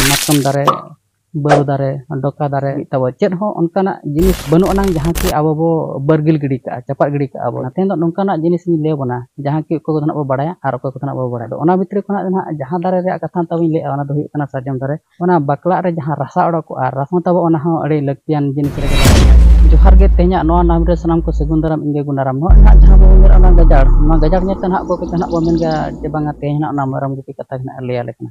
ᱢᱟᱛᱠᱚᱢ ᱫᱟᱨᱮ ᱵᱟᱹᱨᱩ ᱫᱟᱨᱮ ᱰᱚᱠᱟ ᱫᱟᱨᱮ ᱛᱟᱵᱚ ᱪᱮᱫ ᱦᱚᱸ ᱚᱱᱠᱟᱱᱟᱜ ᱡᱤᱱᱤᱥ ᱵᱟᱹᱱᱩᱜ ᱟᱱᱟᱝ ᱡᱟᱦᱟᱸ ᱠᱤ ᱟᱵᱚ ᱵᱚ ᱵᱟᱹᱨᱜᱤᱞ ᱜᱤᱰᱤ ᱠᱟᱜᱼᱟ ᱪᱟᱯᱟᱫ ᱜᱤᱰᱤ ᱠᱟᱜᱼᱟ ᱵᱚ ᱛᱮᱦᱮᱧ ᱫᱚ ᱱᱚᱝᱠᱟᱱᱟᱜ ᱡᱤᱱᱤᱥ ᱤᱧ ᱞᱟᱹᱭ ᱟᱵᱚᱱᱟ ᱡᱟᱦᱟᱸ ᱠᱤ ᱚᱠᱚᱭ ᱠᱚᱫᱚ ᱱᱟᱜ ᱵᱚ ᱵᱟᱲᱟᱭᱟ ᱟᱨ ᱚᱠᱚᱭ ᱠᱚᱫᱚ ᱱᱟᱜ ᱵᱟᱵᱚ ᱵᱟᱲᱟᱭᱟ ᱟᱫᱚ ᱚᱱᱟ ᱵᱷᱤᱛᱨᱤ ᱠᱷᱚᱱᱟᱜ ᱫᱚ ᱱᱟᱜ ᱡᱟᱦᱟᱸ ᱫᱟᱨᱮ ᱨᱮᱭᱟᱜ ᱠᱟᱛᱷᱟ ᱱᱤᱛᱚᱜ ᱤᱧ ᱞᱟᱹᱭᱮᱜᱼᱟ ᱚᱱᱟ ᱫᱚ ᱦᱩᱭᱩᱜ ᱠᱟᱱᱟ ᱥᱟᱨᱡᱚᱢ ᱫᱟᱨᱮ ᱚᱱᱟ ᱵᱟᱠᱞᱟᱜ ᱨᱮ ᱡᱟᱦᱟᱸ ᱨᱟᱥᱟ ᱚᱰᱚᱠᱚᱜᱼᱟ ᱨᱟᱥᱟ ᱛᱟᱵᱚ ᱚᱱᱟ ᱦᱚᱸ ᱟᱹᱰᱤ ᱞᱟᱹᱠᱛᱤᱭᱟᱱ ᱡᱤᱱᱤᱥ ᱨᱮᱜᱮ ᱞᱟᱜᱟᱜᱼᱟ ᱡᱚᱦᱟᱨ ᱜᱮ ᱛᱮᱦᱮᱧᱟᱜ ᱱᱚᱣᱟ ᱱᱟᱢ ᱨᱮ ᱥᱟᱱᱟᱢ ᱠᱚ ᱥᱟᱹᱜᱩᱱ ᱫᱟᱨᱟᱢ ᱤᱧ ᱜᱮ ᱜᱩᱱᱟᱨᱟᱢ ᱱᱚᱣᱟ ᱱᱟᱜ ᱡᱟᱦᱟᱸ ᱵᱚᱱ ᱢᱮᱱᱮᱜᱼᱟ ᱚᱱᱟ ᱜᱟᱡᱟᱲ ᱱᱚᱣᱟ ᱜᱟᱡᱟᱲ ᱧᱮᱞᱛᱮ ᱱᱟᱜ ᱚᱠᱚᱭ ᱠᱚᱪᱚ ᱱᱟᱜ ᱵᱚᱱ ᱢᱮᱱ ᱜᱮᱭᱟ ᱡᱮ ᱵᱟᱝᱟ ᱛᱮᱦᱮᱧ ᱱᱟᱜ ᱚᱱᱟ ᱢᱮᱨᱚᱢ ᱜᱩᱯᱤ ᱠᱟᱛᱷᱟ ᱜᱮ ᱱᱟᱜ ᱞᱟᱹᱭᱟᱞᱮ ᱠᱟᱱᱟ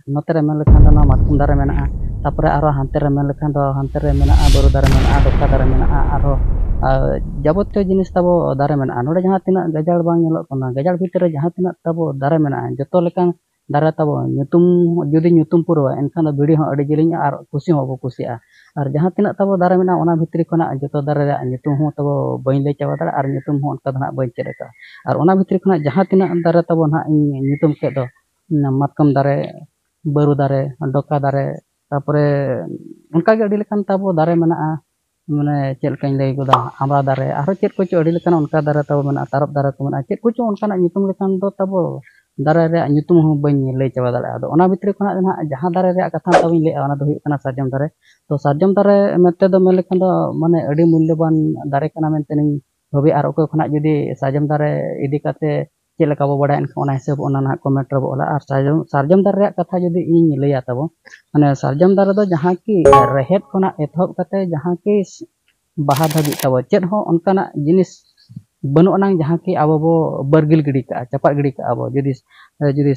ᱱᱚᱛᱮ ᱨᱮ ᱢᱮᱱ ᱞᱮᱠᱷᱟᱱ ᱫᱚ ᱱᱚᱣᱟ ᱢᱟᱛᱠᱚᱢ ᱫᱟᱨᱮ ᱢᱮᱱᱟᱜᱼᱟ ᱛᱟᱨᱯᱚᱨᱮ ᱟᱨᱦᱚᱸ ᱦᱟᱱᱛᱮ ᱨᱮ ᱢᱮᱱ ᱞᱮᱠᱷᱟᱱ ᱫᱚ ᱦᱟᱱᱛᱮ ᱨᱮ ᱢᱮᱱᱟᱜᱼᱟ ᱵᱟᱹᱨᱩ ᱫᱟᱨᱮ ᱢᱮᱱᱟᱜᱼᱟ ᱵᱟᱛᱟ ᱫᱟᱨᱮ ᱢᱮᱱᱟᱜᱼᱟ ᱟᱨᱦᱚᱸ ᱡᱟᱵᱚᱛᱤᱭᱚ ᱡᱤᱱᱤᱥ ᱛᱟᱵᱚ ᱫᱟᱨᱮ ᱢᱮᱱᱟᱜᱼᱟ ᱱᱚᱰᱮ ᱡᱟᱦᱟᱸ ᱛᱤᱱᱟᱹᱜ ᱜᱟᱡᱟᱲ ᱵᱟᱝ ᱧᱮᱞᱚᱜ ᱠᱟᱱᱟ ᱜᱟᱡᱟᱲ ᱵᱷᱤᱛᱨᱤ ᱨᱮ ᱡᱟᱦᱟᱸ ᱛᱤᱱᱟᱹᱜ ᱛᱟᱵᱚ ᱫᱟᱨᱮ ᱢᱮᱱᱟᱜᱼᱟ ᱡᱚᱛᱚ ᱞᱮᱠᱟᱱ ᱫᱟᱨᱮ ᱛᱟᱵᱚ ᱧᱩᱛᱩᱢ ᱡᱩᱫᱤ ᱧᱩᱛᱩᱢ ᱯᱩᱨᱟᱹᱣᱟ ᱮᱱᱠᱷᱟᱱ ᱫᱚ ᱵᱤᱲᱤ ᱦᱚᱸ ᱟᱹᱰᱤ ᱡᱤᱞᱤᱧᱟ ᱟᱨ ᱠᱩᱥᱤ ᱦᱚᱸ ᱵᱟᱵᱚ ᱠᱩᱥᱤᱜᱼᱟ ᱟᱨ ᱡᱟᱦᱟᱸ ᱛᱤᱱᱟᱹᱜ ᱛᱟᱵᱚ ᱫᱟᱨᱮ ᱢᱮᱱᱟᱜᱼᱟ ᱚᱱᱟ ᱵᱷᱤᱛᱨᱤ ᱠᱷᱚᱱᱟᱜ ᱡᱚᱛᱚ ᱫᱟᱨᱮ ᱨᱮᱭᱟᱜ ᱧᱩᱛᱩᱢ ᱦᱚᱸ ᱛᱟᱵᱚ ᱵᱟᱹᱧ ᱞᱟᱹᱭ ᱪᱟᱵᱟ ᱫᱟᱲᱮᱭᱟᱜᱼᱟ ᱟᱨ ᱧᱩᱛᱩᱢ ᱦᱚᱸ ᱚᱱᱠᱟ ᱫᱚ ᱱᱟᱦᱟᱜ ᱵᱟᱹᱧ ᱪᱮᱫ ᱟᱠᱟᱫᱼᱟ ᱟᱨ ᱚᱱᱟ ᱵᱷᱤᱛᱨᱤ ᱠᱷᱚᱱᱟᱜ ᱡᱟᱦᱟᱸ ᱛᱤᱱᱟᱹᱜ ᱫᱟᱨᱮ ᱛᱟᱵᱚ ᱱᱟᱦᱟᱜ ᱤᱧ ᱧᱩᱛᱩᱢ ᱠᱮᱫ ᱫᱚ ᱚᱱᱟ ᱢᱟᱛᱠᱚᱢ ᱫᱟᱨᱮ ᱵᱟᱹᱨᱩ ᱫᱟᱨᱮ ᱰᱚᱠᱟ ᱫᱟᱨᱮ ᱛᱟᱨᱯᱚᱨᱮ ᱚᱱᱠᱟᱜᱮ ᱟᱹᱰᱤ ᱞᱮᱠᱟᱱ ᱛᱟᱵᱚ ᱫᱟᱨᱮ ᱢᱮᱱᱟᱜᱼᱟ ᱢᱟᱱᱮ ᱪᱮᱫ ᱞᱮᱠᱟᱧ ᱞᱟᱹᱭ ᱜᱚᱫᱟ ᱟᱢᱲᱟ ᱫᱟᱨᱮ ᱟᱨᱦᱚᱸ ᱪᱮᱫ ᱠᱚᱪᱚ ᱟᱹᱰᱤ ᱞᱮᱠᱟᱱ ᱚᱱᱠᱟ ᱫᱟᱨᱮ ᱛᱟᱵᱚ ᱢᱮᱱᱟᱜᱼᱟ ᱛᱟᱨᱚᱵ ᱫᱟᱨᱮ ᱠᱚ ᱢᱮᱱᱟᱜᱼᱟ ᱪᱮᱫ ᱠᱚᱪᱚᱝ ᱚᱱᱠᱟᱱᱟᱜ ᱧᱩᱛᱩᱢ ᱞᱮᱠᱟᱱ ᱫᱚ ᱛᱟᱵᱚ ᱫᱟᱨᱮ ᱨᱮᱭᱟᱜ ᱧᱩᱛᱩᱢ ᱦᱚᱸ ᱵᱟᱹᱧ ᱞᱟᱹᱭ ᱪᱟᱵᱟ ᱫᱟᱲᱮᱭᱟᱜᱼᱟ ᱟᱫᱚ ᱚᱱᱟ ᱵᱷᱤᱛᱨᱤ ᱠᱷᱚᱱᱟᱜ ᱜᱮ ᱦᱟᱸᱜ ᱡᱟᱦᱟᱸ ᱫᱟᱨᱮ ᱨᱮᱭᱟᱜ ᱠᱟᱛᱷᱟ ᱛᱟᱵᱚ ᱞᱟᱹᱭ ᱮᱫᱟ ᱚᱱᱟ ᱫᱚ ᱦᱩᱭᱩᱜ ᱠᱟᱱᱟ ᱥᱟᱨᱡᱚᱢ ᱫᱟᱨᱮ ᱛᱚ ᱥᱟᱨᱡᱚᱢ ᱫᱟᱨᱮ ᱢᱮᱱ ᱛᱮᱫᱚ ᱢᱮᱱ ᱞᱮᱠᱷᱟᱱ ᱫᱚ ᱢᱟᱱᱮ ᱟᱹᱰᱤ ᱢᱩᱞᱞᱚᱵᱟᱱ ᱫᱟᱨᱮ ᱠᱟᱱᱟ ᱢᱮᱱᱛᱮ ᱤᱧ ᱵᱷᱟᱹᱵᱤᱭᱟ ᱟᱨ ᱚᱠᱚᱭ ᱠᱷᱚᱱᱟᱜ ᱡᱩᱫᱤ ᱥᱟᱨᱡᱚᱢ ᱫᱟᱨᱮ ᱤᱫᱤ ᱠᱟᱛᱮᱫ ᱪᱮᱫ ᱞᱮᱠᱟ ᱵᱚᱱ ᱵᱟᱲᱟᱭᱟ ᱮᱱᱠᱷᱟᱱ ᱚᱱᱟ ᱦᱤᱥᱟᱹᱵᱽ ᱚᱱᱟ ᱱᱟᱦᱟᱜ ᱠᱚᱢᱮᱱᱴ ᱨᱮᱵᱚᱱ ᱚᱞᱟ ᱟᱨ ᱥᱟᱨᱡᱚᱢ ᱥᱟᱨᱡᱚᱢ ᱫᱟᱨᱮ ᱨᱮᱭᱟᱜ ᱠᱟᱛᱷᱟ ᱡᱩᱫᱤ ᱤᱧ ᱞᱟᱹᱭᱟ ᱛᱟᱵᱚᱱ ᱢᱟᱱᱮ ᱥᱟᱨᱡᱚᱢ ᱫᱟᱨᱮ ᱫᱚ ᱡᱟᱦᱟᱸ ᱠᱤ ᱨᱮᱦᱮᱫ ᱠᱷᱚᱱᱟᱜ ᱮᱛᱚᱦᱚᱵ ᱠᱟᱛᱮᱫ ᱡᱟᱦᱟᱸ ᱠᱤ ᱵᱟᱦᱟ ᱫᱷᱟᱹᱵᱤᱡ ᱛᱟᱵᱚᱱ ᱪᱮᱫ ᱦᱚᱸ ᱚᱱᱠᱟᱱᱟᱜ ᱡᱤᱱᱤᱥ ᱵᱟᱹᱱᱩᱜ ᱟᱱᱟᱝ ᱡᱟᱦᱟᱸ ᱠᱤ ᱟᱵᱚ ᱵᱚᱱ ᱵᱟᱹᱨᱜᱤᱞ ᱜᱤᱰᱤ ᱠᱟᱜᱼᱟ ᱪᱟᱯᱟᱫ ᱜᱤᱰᱤ ᱠᱟᱜᱼᱟ ᱵᱚᱱ ᱡᱩᱫᱤ ᱡᱩᱫᱤ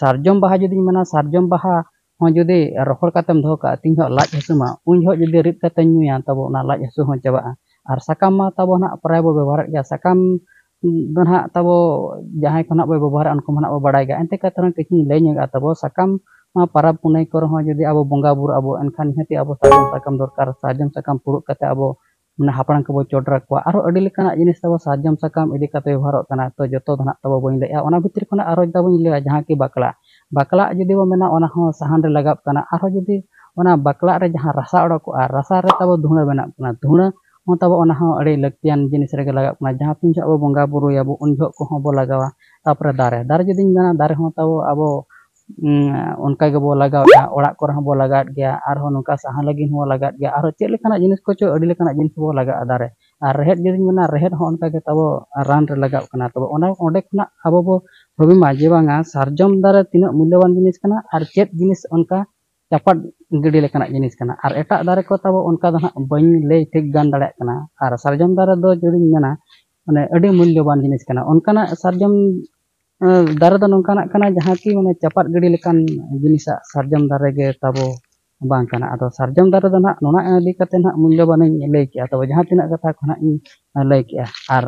ᱥᱟᱨᱡᱚᱢ ᱵᱟᱦᱟ ᱡᱩᱫᱤᱧ ᱢᱮᱱᱟ ᱥᱟᱨᱡᱚᱢ ᱵᱟᱦᱟ ᱦᱚᱸ ᱡᱩᱫᱤ ᱨᱚᱦᱚᱲ ᱠᱟᱛᱮᱢ ᱫᱚᱦᱚ ᱠᱟᱜᱼᱟ ᱛᱤᱱ ᱡᱚᱦᱚᱜ ᱞᱟᱡ ᱦᱟᱹᱥᱩ ᱢᱟ ᱩᱱ ᱡᱚᱦᱚᱜ ᱡᱩᱫᱤ ᱨᱤᱫ ᱠᱟᱛᱮ ᱧᱩᱭᱟ ᱛᱚᱵᱮ ᱚᱱᱟ ᱞᱟᱡ ᱦᱟᱹᱥᱩ ᱦᱚᱸ ᱪᱟᱵᱟᱜᱼᱟ ᱟᱨ ᱥᱟᱠᱟᱢ ᱢᱟ ᱛᱟᱵᱚ ᱱᱟᱦᱟᱜ ᱯᱨᱟᱭ ᱵᱚ ᱵᱮᱵᱚᱦᱟᱨᱮᱫ ᱜᱮᱭᱟ ᱥᱟᱠᱟᱢ ᱫᱚ ᱱᱟᱦᱟᱜ ᱛᱟᱵᱚ ᱡᱟᱦᱟᱸᱭ ᱠᱚ ᱱᱟᱦᱟᱜ ᱵᱚ ᱵᱮᱵᱚᱦᱟᱨᱟ ᱩᱱᱠᱩ ᱢᱟ ᱱᱟᱦᱟᱜ ᱵᱚ ᱵᱟᱲᱟᱭ ᱜᱮᱭᱟ ᱮᱱᱛᱮ ᱠᱟᱛᱮ ᱨᱮᱦᱚᱸ ᱠᱤᱪᱷᱩᱧ ᱞᱟᱹᱭ ᱧᱚᱜᱟ ᱛᱟᱵᱚ ᱥᱟᱠᱟᱢ ᱱᱚᱣᱟ ᱯᱟᱨᱟᱵᱽ ᱯᱩᱱᱟᱹᱭ ᱠᱚᱨᱮ ᱦᱚᱸ ᱡᱩᱫᱤ ᱟᱵᱚ ᱵᱚᱸᱜᱟ ᱵᱩᱨᱩᱜ ᱟᱵᱚ ᱮᱱᱠᱷᱟᱱ ᱱᱤᱦᱟᱹᱛᱤ ᱟᱵᱚ ᱥᱟᱨᱡᱚᱢ ᱥᱟᱠᱟᱢ ᱫᱚᱨᱠᱟᱨ ᱥᱟᱨᱡᱚᱢ ᱥᱟᱠᱟᱢ ᱯᱷᱩᱲᱩᱜ ᱠᱟᱛᱮ ᱟᱵᱚ ᱢᱟᱱᱮ ᱦᱟᱯᱲᱟᱢ ᱠᱚᱵᱚ ᱪᱚᱰᱚᱨ ᱟᱠᱚᱣᱟ ᱟᱨᱦᱚᱸ ᱟᱹᱰᱤ ᱞᱮᱠᱟᱱᱟᱜ ᱡᱤᱱᱤᱥ ᱛᱟᱵᱚ ᱥᱟᱨᱡᱚᱢ ᱥᱟᱠᱟᱢ ᱤᱫᱤ ᱠᱟᱛᱮᱫ ᱵᱮᱵᱚᱦᱟᱨᱚᱜ ᱠᱟᱱᱟ ᱛᱚ ᱡᱚᱛᱚ ᱫᱚ ᱱᱟᱦᱟᱜ ᱛᱟᱵᱚ ᱵᱟᱹᱧ ᱞᱟᱹᱭᱮᱫᱼᱟ ᱚᱱᱟ ᱵᱷᱤᱛᱨᱤ ᱠᱷᱚᱱᱟᱜ ᱟᱨᱚ ᱡᱮᱴᱟ ᱵᱚᱱ ᱞᱟᱹᱭᱟ ᱡᱟᱦᱟᱸ ᱠᱤ ᱵᱟᱠᱞᱟᱜ ᱵᱟᱠᱞᱟᱜ ᱡᱩᱫᱤ ᱵᱚᱱ ᱢᱮᱱᱟ ᱚᱱᱟ ᱦᱚᱸ ᱥᱟᱦᱟᱱ ᱨᱮ ᱞᱟᱜᱟᱜ ᱠᱟᱱᱟ ᱟᱨᱦᱚᱸ ᱡᱩᱫᱤ ᱚᱱᱟ ᱵᱟᱠᱞᱟᱜ ᱨᱮ ᱡᱟᱦᱟᱸ ᱨᱟᱥᱟ ᱚᱰᱚᱠᱚᱜᱼᱟ ᱨᱟᱥᱟ ᱨᱮ ᱛᱟᱵᱚ ᱫᱷᱩᱬᱟᱹ ᱵᱮᱱᱟᱜ ᱠᱟᱱᱟ ᱫᱷᱩᱬᱟᱹ ᱦᱚᱸ ᱛᱟᱵᱚ ᱚᱱᱟ ᱦᱚᱸ ᱟᱹᱰᱤ ᱞᱟᱹᱠᱛᱤᱭᱟᱱ ᱡᱤᱱᱤᱥ ᱨᱮᱜᱮ ᱞᱟᱜᱟᱜ ᱠᱟᱱᱟ ᱡᱟᱦᱟᱸ ᱛᱤᱱ ᱡᱚᱦᱚᱜ ᱟᱵᱚ ᱵᱚᱸᱜᱟ ᱵᱩᱨᱩᱭᱟᱵᱚ ᱩᱱ ᱡᱚᱦᱚᱜ ᱠᱚᱦᱚᱸ ᱵᱚ ᱞᱟᱜᱟᱣᱟ ᱛᱟᱯᱚᱨᱮ ᱫᱟᱨᱮ ᱫᱟᱨᱮ ᱡᱩᱫᱤᱧ ᱢᱮᱱᱟ ᱫᱟᱨᱮ ᱦᱚᱸ ᱛᱟᱵᱚ ᱟᱵᱚ ᱚᱱᱠᱟ ᱜᱮᱵᱚ ᱞᱟᱜᱟᱣᱮᱫᱼᱟ ᱚᱲᱟᱜ ᱠᱚᱨᱮ ᱦᱚᱸᱵᱚ ᱞᱟᱜᱟᱣᱮᱫ ᱜᱮᱭᱟ ᱟᱨᱦᱚᱸ ᱱᱚᱝᱠᱟ ᱥᱟᱦᱟᱱ ᱞᱟᱹᱜᱤᱫ ᱦᱚᱸᱵᱚ ᱞᱟᱜᱟᱣᱮᱫ ᱜᱮᱭᱟ ᱟᱨᱦᱚᱸ ᱪᱮᱫ ᱞᱮᱠᱟᱱᱟᱜ ᱡᱤᱱᱤᱥ ᱠᱚᱪᱚ ᱟᱹᱰᱤ ᱞᱮᱠᱟᱱᱟᱜ ᱡᱤᱱᱤᱥ ᱵᱚ ᱞᱟᱜᱟᱣᱮᱫᱼᱟ ᱫᱟᱨᱮ ᱟᱨ ᱨᱮᱦᱮᱫ ᱡᱩᱫᱤᱧ ᱢᱮᱱᱟ ᱨᱮᱦᱮᱫ ᱦᱚᱸ ᱚᱱᱠᱟ ᱜᱮ ᱛᱟᱵᱚ ᱨᱟᱱ ᱨᱮ ᱞᱟᱜᱟᱜ ᱠᱟᱱᱟ ᱛᱚᱵᱮ ᱚᱱᱟ ᱚᱸᱰᱮ ᱠᱷᱚᱱᱟᱜ ᱟᱵᱚ ᱵᱚ ᱵᱷᱟᱹᱵᱤ ᱢᱟ ᱡᱮ ᱵᱟᱝᱟ ᱥᱟᱨᱡᱚᱢ ᱫᱟᱨᱮ ᱛᱤᱱᱟᱹᱜ ᱢᱩᱞᱞᱚᱵᱟᱱ ᱡᱤᱱᱤᱥ ᱠᱟᱱᱟ ᱟᱨ ᱪᱮᱫ ᱡᱤᱱᱤᱥ ᱚᱱᱠᱟ ᱪᱟᱯᱟᱫ ᱜᱤᱰᱤ ᱞᱮᱠᱟᱱᱟᱜ ᱡᱤᱱᱤᱥ ᱠᱟᱱᱟ ᱟᱨ ᱮᱴᱟᱜ ᱫᱟᱨᱮ ᱠᱚ ᱛᱟᱵᱚ ᱚᱱᱠᱟ ᱫᱚ ᱦᱟᱸᱜ ᱵᱟᱹᱧ ᱞᱟᱹᱭ ᱴᱷᱤᱠ ᱜᱟᱱ ᱫᱟᱲᱮᱭᱟᱜ ᱠᱟᱱᱟ ᱟᱨ ᱥᱟᱨᱡᱚᱢ ᱫᱟᱨᱮ ᱫᱚ ᱡᱩᱫᱤᱧ ᱢᱮᱱᱟ ᱢᱟᱱᱮ ᱟᱹᱰᱤ ᱢᱩᱞᱞᱚᱵᱟᱱ ᱡᱤᱱᱤᱥ ᱠᱟᱱᱟ ᱚᱱᱠᱟᱱᱟᱜ ᱥᱟᱨᱡᱚᱢ ᱫᱟᱨᱮ ᱫᱚ ᱱᱚᱝᱠᱟᱱᱟᱜ ᱠᱟᱱᱟ ᱡᱟᱦᱟᱸ ᱠᱤ ᱢᱟᱱᱮ ᱪᱟᱯᱟᱫ ᱜᱤᱰᱤ ᱞᱮᱠᱟᱱ ᱡᱤᱱᱤᱥᱟᱜ ᱥᱟᱨᱡᱚᱢ ᱫᱟᱨᱮ ᱜᱮ ᱛᱟᱵᱚ ᱵᱟᱝ ᱠᱟᱱᱟ ᱟᱫᱚ ᱥᱟᱨᱡᱚᱢ ᱫᱟᱨᱮ ᱫᱚ ᱱᱟᱦᱟᱜ ᱱᱚᱣᱟ ᱤᱫᱤ ᱠᱟᱛᱮ ᱱᱟᱦᱟᱜ ᱢᱩᱞᱞᱚᱵᱟᱱ ᱤᱧ ᱞᱟᱹᱭ ᱠᱮᱜᱼᱟ ᱛᱚᱵᱮ ᱡᱟᱦᱟᱸ ᱛᱤᱱᱟᱹᱜ ᱠᱟᱛᱷᱟ ᱠᱚ ᱱᱟᱦᱟᱜ ᱤᱧ ᱞᱟᱹᱭ ᱠᱮᱜᱼᱟ ᱟᱨ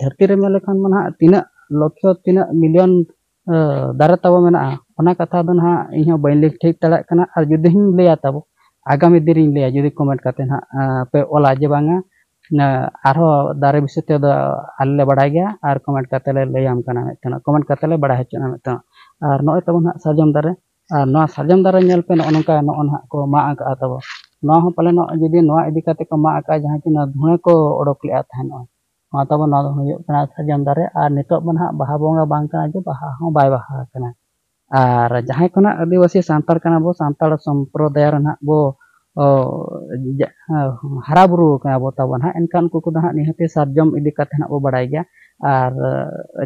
ᱫᱷᱟᱹᱨᱛᱤ ᱨᱮ ᱢᱮᱱ ᱞᱮᱠᱷᱟᱱ ᱢᱟ ᱱᱟᱦᱟᱜ ᱛᱤᱱᱟᱹᱜ ᱞᱚᱠᱠᱷᱚ ᱛᱤᱱᱟᱹᱜ ᱢᱤᱞᱤᱭᱚᱱ ᱫᱟᱨᱮ ᱛᱟᱵᱚ ᱢᱮᱱᱟᱜᱼᱟ ᱚᱱᱟ ᱠᱟᱛᱷᱟ ᱫᱚ ᱱᱟᱦᱟᱜ ᱤᱧ ᱦᱚᱸ ᱵᱟᱹᱧ ᱞᱟᱹᱭ ᱴᱷᱤᱠ ᱫᱟᱲᱮᱭᱟᱜ ᱠᱟᱱᱟ ᱟᱨ ᱡᱩᱫᱤ ᱦᱚᱧ ᱞᱟᱹᱭᱟ ᱛᱟᱵᱚ ᱟᱜᱟᱢᱤ ᱫᱤᱱ ᱨᱤᱧ ᱞᱟᱹᱭᱟ ᱡᱩᱫᱤ ᱠᱚᱢᱮᱱᱴ ᱠᱟᱛᱮ ᱱᱟᱦᱟᱜ ᱯᱮ ᱚᱞᱟ ᱡᱮ ᱵᱟᱝᱟ ᱤᱱᱟᱹ ᱟᱨᱦᱚᱸ ᱫᱟᱨᱮ ᱵᱤᱥᱚᱭ ᱛᱮᱫᱚ ᱟᱞᱮ ᱞᱮ ᱵᱟᱲᱟᱭ ᱜᱮᱭᱟ ᱟᱨ ᱠᱚᱢᱮᱱᱴ ᱠᱟᱛᱮ ᱞᱮ ᱞᱟᱹᱭᱟᱢ ᱠᱟᱱᱟ ᱢᱤᱫᱴᱮᱱ ᱠᱚᱢᱮᱱᱴ ᱠᱟᱛᱮ ᱞᱮ ᱵᱟᱲᱟᱭ ᱦᱚᱪᱚᱭᱮᱫ ᱢᱮᱭᱟ ᱢᱤᱫᱴᱮᱱ ᱟᱨ ᱱᱚᱜᱼᱚᱭ ᱛᱟᱵᱚᱱ ᱱᱟᱦᱟᱜ ᱥᱟᱨᱡᱚᱢ ᱫᱟᱨᱮ ᱟᱨ ᱱᱚᱣᱟ ᱥᱟᱨᱡᱚᱢ ᱫᱟᱨᱮ ᱧᱮᱞ ᱯᱮ ᱱᱚᱜᱼᱚ ᱱᱚᱝᱠᱟ ᱱᱚᱜᱼᱚ ᱱᱟᱦᱟᱜ ᱠᱚ ᱢᱟᱜ ᱟᱠᱟᱫᱼᱟ ᱛᱟᱵᱚ ᱱᱚᱣᱟ ᱦᱚᱸ ᱯᱟᱞᱮᱱᱚᱜ ᱡᱩᱫᱤ ᱱᱚᱣᱟ ᱤᱫᱤ ᱠᱟᱛᱮ ᱠᱚ ᱢᱟᱜ ᱟᱠᱟᱫᱼᱟ ᱡᱟᱦᱟᱸ ᱠᱤ ᱱᱚᱣᱟ ᱫᱷᱩᱬᱟᱹ ᱠᱚ ᱚᱰᱚᱠ ᱞᱮᱫᱼᱟ ᱛᱟᱦᱮᱱᱚᱜ ᱱᱚᱣᱟ ᱛᱟᱵᱚᱱ ᱱᱚᱣᱟ ᱫᱚ ᱦᱩᱭᱩᱜ ᱠᱟᱱᱟ ᱥᱟᱨᱡᱚᱢ ᱫᱟᱨᱮ ᱟᱨ ᱱᱤᱛᱚᱜ ᱫᱚ ᱱᱟᱦᱟᱜ ᱵᱟᱦᱟ ᱵᱚᱸᱜᱟ ᱵᱟᱝ ᱠᱟᱱᱟ ᱡᱮ ᱵᱟᱦᱟ ᱦᱚᱸ ᱵᱟᱭ ᱵᱟᱦᱟ ᱟᱠᱟᱱᱟ ᱟᱨ ᱡᱟᱦᱟᱸᱭ ᱠᱚ ᱱᱟᱦᱟᱜ ᱟᱹᱫᱤᱵᱟᱹᱥᱤ ᱥᱟᱱᱛᱟᱲ ᱠᱟᱱᱟ ᱵᱚ ᱥᱟᱱᱛᱟᱲ ᱥᱚᱢᱯᱨᱚᱫᱟᱭ ᱨᱮ ᱱᱟᱦᱟᱜ ᱵᱚ ᱦᱟᱨᱟ ᱵᱩᱨᱩ ᱟᱠᱟᱱᱟ ᱵᱚ ᱛᱟᱵᱚ ᱱᱟᱦᱟᱜ ᱮᱱᱠᱷᱟᱱ ᱩᱱᱠᱩ ᱠᱚᱫᱚ ᱱᱟᱦᱟᱜ ᱱᱤᱦᱟᱹᱛᱤ ᱥᱟᱨᱡᱚᱢ ᱤᱫᱤ ᱠᱟᱛᱮᱫ ᱱᱟᱦᱟᱜ ᱵᱚ ᱵᱟᱲᱟᱭ ᱜᱮᱭᱟ ᱟᱨ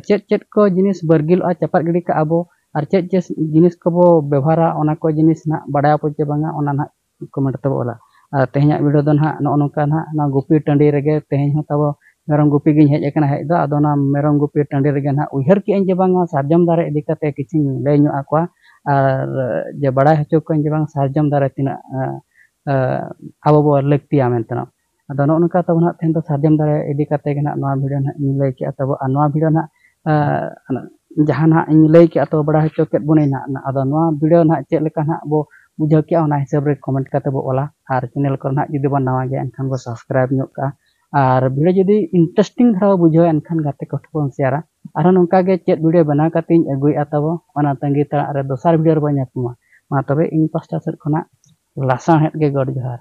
ᱪᱮᱫ ᱪᱮᱫ ᱠᱚ ᱡᱤᱱᱤᱥ ᱵᱟᱹᱨᱜᱤᱞᱚᱜᱼᱟ ᱪᱟᱯᱟᱫ ᱜᱤᱰᱤ ᱠᱟᱜᱼᱟ ᱵᱚ ᱟᱨ ᱪᱮᱫ ᱪᱮᱫ ᱡᱤᱱᱤᱥ ᱠᱚᱵᱚ ᱵᱮᱵᱷᱟᱨᱟ ᱚᱱᱟ ᱠᱚ ᱡᱤᱱᱤᱥ ᱱᱟᱦᱟᱜ ᱵᱟᱰᱟᱭ ᱟᱵᱚ ᱪᱮ ᱵᱟᱝᱟ ᱚᱱᱟ ᱱᱟᱦᱟᱜ ᱠᱚᱢᱮᱱᱴ ᱛᱟᱵᱚ ᱚᱞᱟ ᱟᱨ ᱛᱮᱦᱮᱧᱟᱜ ᱵᱷᱤᱰᱤᱭᱳ ᱫᱚ ᱱᱟᱦᱟᱜ ᱱᱚᱜᱼᱚ ᱱᱚᱝᱠᱟ ᱱᱟᱦᱟᱜ ᱱᱚᱣᱟ ᱜᱩᱯᱤ ᱴᱟᱺᱰᱤ ᱨᱮᱜᱮ ᱛᱮᱦᱮᱧ ᱦᱚᱸ ᱛᱟᱵᱚ ᱢᱮᱨᱚᱢ ᱜᱩᱯᱤ ᱜᱤᱧ ᱦᱮᱡ ᱟᱠᱟᱱᱟ ᱦᱮᱡ ᱫᱚ ᱟᱫᱚ ᱚᱱᱟ ᱢᱮᱨᱚᱢ ᱜᱩᱯᱤ ᱴᱟᱺᱰᱤ ᱨᱮᱜᱮ ᱱᱟᱦᱟᱜ ᱩᱭᱦᱟᱹᱨ ᱠᱮᱜᱼᱟᱹᱧ ᱡᱮ ᱵᱟᱝ ᱱᱚᱣᱟ ᱥᱟᱨᱡᱚᱢ ᱫᱟᱨᱮ ᱤᱫᱤ ᱠᱟᱛᱮ ᱠᱤᱪᱷᱩᱧ ᱞᱟᱹᱭ ᱧᱚᱜ ᱟᱠᱚᱣᱟ ᱟᱨ ᱡᱮ ᱵᱟᱲᱟᱭ ᱦᱚᱪᱚ ᱠᱚᱣᱟᱹᱧ ᱡᱮ ᱵᱟᱝ ᱥᱟᱨᱡᱚᱢ ᱫᱟᱨᱮ ᱛᱤᱱᱟᱹᱜ ᱟᱵᱚ ᱵᱚ ᱞᱟᱹᱠᱛᱤᱭᱟ ᱢᱮᱱᱛᱮ ᱟᱫᱚ ᱱᱚᱜᱼᱚ ᱱᱚᱝᱠᱟ ᱛᱟᱵᱚ ᱱᱟᱦᱟᱜ ᱛᱮᱦᱮᱧ ᱫᱚ ᱥᱟᱨᱡᱚᱢ ᱫᱟᱨᱮ ᱤᱫᱤ ᱠᱟᱛᱮ ᱜᱮ ᱱᱟᱦᱟᱜ ᱱᱚᱣᱟ ᱵᱷᱤᱰᱤᱭᱳ ᱱᱟᱦᱟᱜ ᱤᱧ ᱞᱟᱹᱭ ᱠᱮᱜᱼᱟ ᱛᱟᱵᱚ ᱟᱨ ᱱᱚᱣᱟ ᱵᱷᱤᱰᱤᱭᱳ ᱱᱟᱦᱟᱜ ᱡᱟᱦᱟᱸ ᱱᱟᱦᱟᱜ ᱤᱧ ᱞᱟᱹᱭ ᱠᱮᱜᱼᱟ ᱛᱚ ᱵᱟᱲᱟᱭ ᱦᱚᱪᱚ ᱠᱮᱜ ᱵᱚᱱᱟᱹᱧ ᱱᱟᱦᱟᱜ ᱟᱫᱚ ᱱᱚᱣᱟ ᱵᱷᱤᱰᱤᱭᱳ ᱱᱟᱦᱟᱜ ᱪᱮᱫ ᱞᱮᱠᱟ ᱱᱟᱦᱟᱜ ᱵᱚ ᱵᱩᱡᱷᱟᱹᱣ ᱠᱮᱜᱼᱟ ᱚᱱᱟ ᱦᱤᱥᱟᱹᱵ ᱨᱮ ᱠᱚᱢᱮᱱᱴ ᱠᱟᱛᱮ ᱵᱚ ᱚᱞᱟ ᱟᱨ ᱪᱮᱱᱮᱞ ᱠᱚᱨᱮ ᱱᱟᱦᱟᱜ ᱡᱩᱫᱤ ᱵᱚᱱ ᱱᱟᱣᱟ ᱜᱮᱭᱟ ᱮᱱᱠᱷᱟᱱ ᱵᱚ ᱥᱟᱵᱥᱠᱨᱟᱭᱤᱵᱽ ᱧᱚᱜ ᱠᱟᱜᱼᱟ ᱟᱨ ᱵᱷᱤᱰᱤᱭᱳ ᱡᱩᱫᱤ ᱤᱱᱴᱟᱨᱮᱥᱴᱤᱝ ᱫᱷᱟᱨᱟ ᱵᱚ ᱵᱩᱡᱷᱟᱹᱣᱟ ᱮᱱᱠᱷᱟᱱ ᱜᱟᱛᱮ ᱠᱚ ᱴᱷᱮᱱ ᱵᱚᱱ ᱥᱮᱭᱟᱨᱟ ᱟᱨᱦᱚᱸ ᱱᱚᱝᱠᱟ ᱜᱮ ᱪᱮᱫ ᱵᱷᱤᱰᱤᱭᱳ ᱵᱮᱱᱟᱣ ᱠᱟᱛᱮ ᱤᱧ ᱟᱹᱜᱩᱭᱮᱜᱼᱟ ᱛᱟᱵᱚ ᱚᱱᱟ ᱛᱟᱺᱜᱤ ᱛᱟᱲᱟᱜ ᱨᱮ ᱫᱚᱥᱟᱨ ᱵᱷᱤᱰᱤᱭᱳ ᱨᱮᱵᱚᱱ ᱧᱟᱯᱟᱢᱟ ᱢᱟ ᱛᱚᱵᱮ ᱤᱧ ᱯᱟᱥᱴᱟ ᱥᱮᱫ ᱠᱷᱚᱱᱟᱜ ᱞᱟᱥᱟᱬᱦᱮᱫ ᱜᱮ ᱜᱚᱰ ᱡᱚᱦᱟᱨ